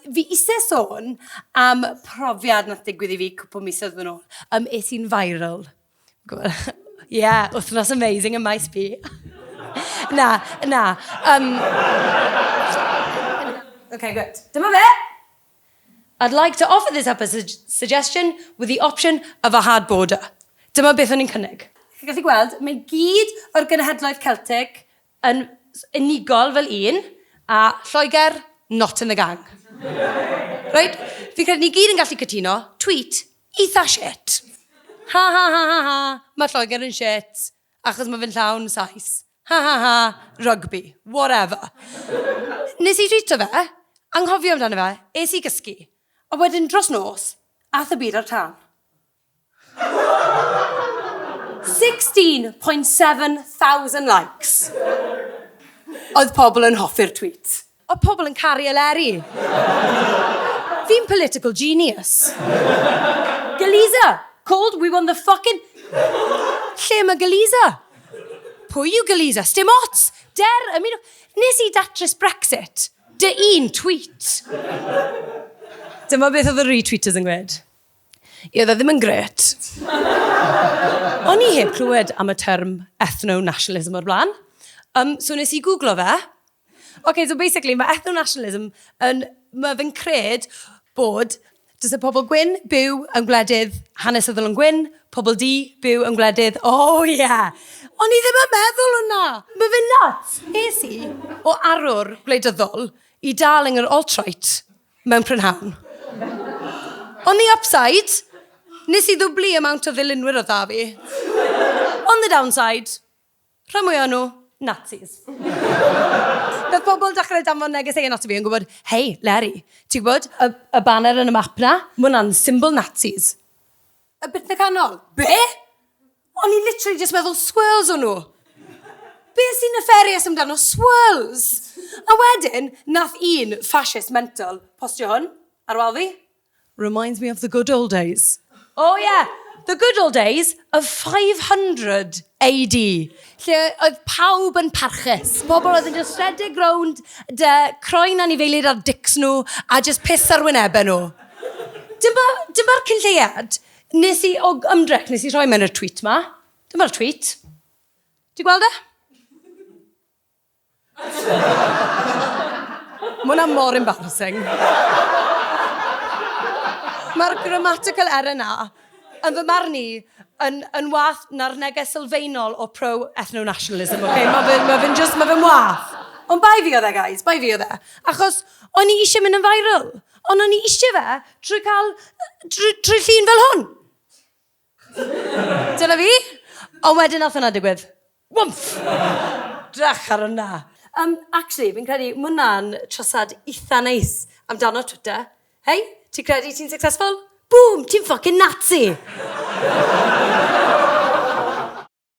Fi eisiau sôn am profiad nath digwydd i fi cwpl misoedd yn ôl. Um, es i'n viral. Ie, yeah, wythnos amazing y maes fi. na, na. Um, okay, good. Dyma fe! I'd like to offer this up as a suggestion with the option of a hard border. Dyma beth o'n i'n cynnig. Chi'n gallu gweld, mae gyd o'r genhedloedd Celtic, Yn unigol fel un, a Lloegr not in the gang. Reit, fi'n credu ni gyd yn gallu cytuno, tweet eitha shit. Ha ha ha ha ha, mae Lloegr yn shit achos mae fe'n llawn Sais. Ha ha ha, rugby, whatever. Nes i twîto fe, anghofio amdano fe, es i gysgu, a wedyn dros nos, aeth y byd ar tân. 16.7 thousand likes. Oedd pobl yn hoffi'r tweet. Oedd pobl yn caru Eleri. Fi'n political genius. Galiza! Called we won the fucking... Lle mae Galiza? Pwy yw Galiza? Sdim ots! Der y munud... Nes i datrys Brexit. Dy un tweet. Dyma beth oedd y retweeters yn gwneud. I oedd e ddim yn gret. O'n i heb clywed am y term ethno-nationalism o'r blaen. Um, so nes i googlo fe. OK, so basically mae ethno-nationalism yn... Mae fe'n cred bod Does y pobl gwyn byw yn gwledydd hanesyddol yn gwyn, pobl di byw yn gwledydd, o oh, ie! Yeah. O'n i ddim yn meddwl hwnna! Mae fe nuts! Es i o arwr gwleidyddol i dal yng yr alt-right. mewn prynhawn. On the upside, nes i ddwblu amount o ddilynwyr o dda fi. On the downside, rhan mwy o'n nhw, Nazis. Doedd pobl dechrau danfon neges ei ati fi yn gwybod, hei, Leri, ti'n gwybod y, y banner yn y map na? Mae hwnna'n symbol Nazis. A bit na canol. Be? O'n i literally just meddwl swirls o'n nhw. Be sy'n nefarious amdano swirls? A wedyn, nath un fascist mental postio hwn ar wal fi. Reminds me of the good old days. Oh yeah, the good old days of 500 AD, lle oedd pawb yn parchus. Pobl oedd yn just rhedeg rownd dy croen anifeilid ar dics nhw a just piss ar wynebau nhw. Dyma'r dyma cynlleiad. Nes i, o ymdrech, nes i rhoi mewn y tweet ma. Dyma'r tweet. Ti'n gweld e? Mae hwnna mor embarrassing. Mae'r grammatical error na, yn fy marn i, yn, yn wath na'r neges sylfaenol o pro-ethno-nationalism, okay? Mae fe'n ma fe just, mae fe'n wath. Ond bai fi oedd e, guys, bai fi oedd e. Achos, o'n i eisiau mynd yn viral. Ond o'n i eisiau fe trwy cael... trwy, trwy llun fel hwn. Dyna fi. Ond wedyn nath hwnna digwydd. Wymff! Drach ar hwnna. Um, actually, fi'n credu mae hwnna'n trasad eitha neis amdano Twitter. Hei, ti'n credu ti'n successful? Boom, ti'n ffucking Nazi!